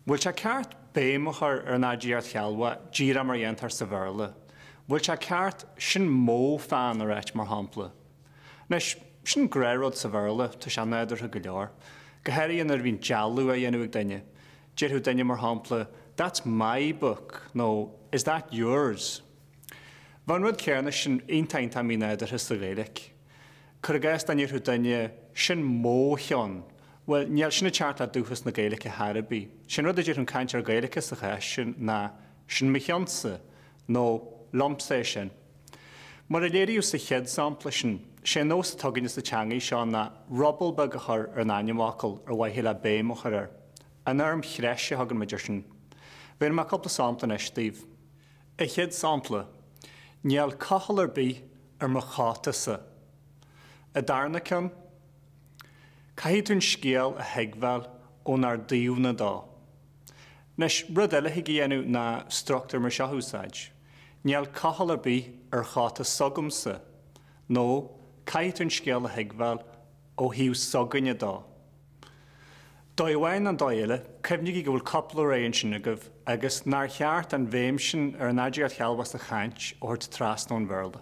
Bhfuil sé ceart béim a chur ar an aidiacht shealbhach, díreach mar a dhéantar sa Bhéarla? Bhfuil sé ceart sin mó pheann a ráit, mar shampla? Anois, sin gnáthrud sa Bhéarla, tá sé nádúrtha go leor. Go háirithe nuair a bhíonn dealú á dhéanamh ag duine. Déarfadh duine, mar shampla, That's my book nó Is that yours? Bheadh an rud céanna sin iontach mínádúrtha sa Ghaeilge. Cuir i gcás, dá ndéarfadh duine, Sin mó cheann. Bhuel, níl sin ag teacht le dúchas na Gaeilice ar chor ar bith. Sé an rud a déarfadh an cainteoir Gaeilice sa chás sin ná Sin mo cheannsa, nó Liomsa é sin. Mar a léiríodh sa chéad sampla sin, sé an nós atá againne sa teangaidh seo ná ruball beag a chur ar an ainmfhocal ar mhaithe le béim a chur air. An fhoirm threise a thugann muid air sin. Bhéarfaidh mé cúpla sampla anois daoibh. An chéad sampla, Níl cochall ar bith ar mo chótasa. An darna ceann, caithfidh tú an scéal a thuigbheáil ónár dtaobhna de. Anois, rud eile thig a dhéanamh ná struchtúr mar seo a úsáid, Níl cochall ar bith ar chóta s'agamsa, nó, Caithfidh tú an scéal a thuigbheáil ó thaobh s'againne de. Dóigh amháin nó dóigh eile, cuimhnígí go bhfuil cúpla rogha ansin agaibh agus nár cheart an bhéim sin ar an aidiacht shealbhach sa chaint a thabhairt trasna ón Bhéarla.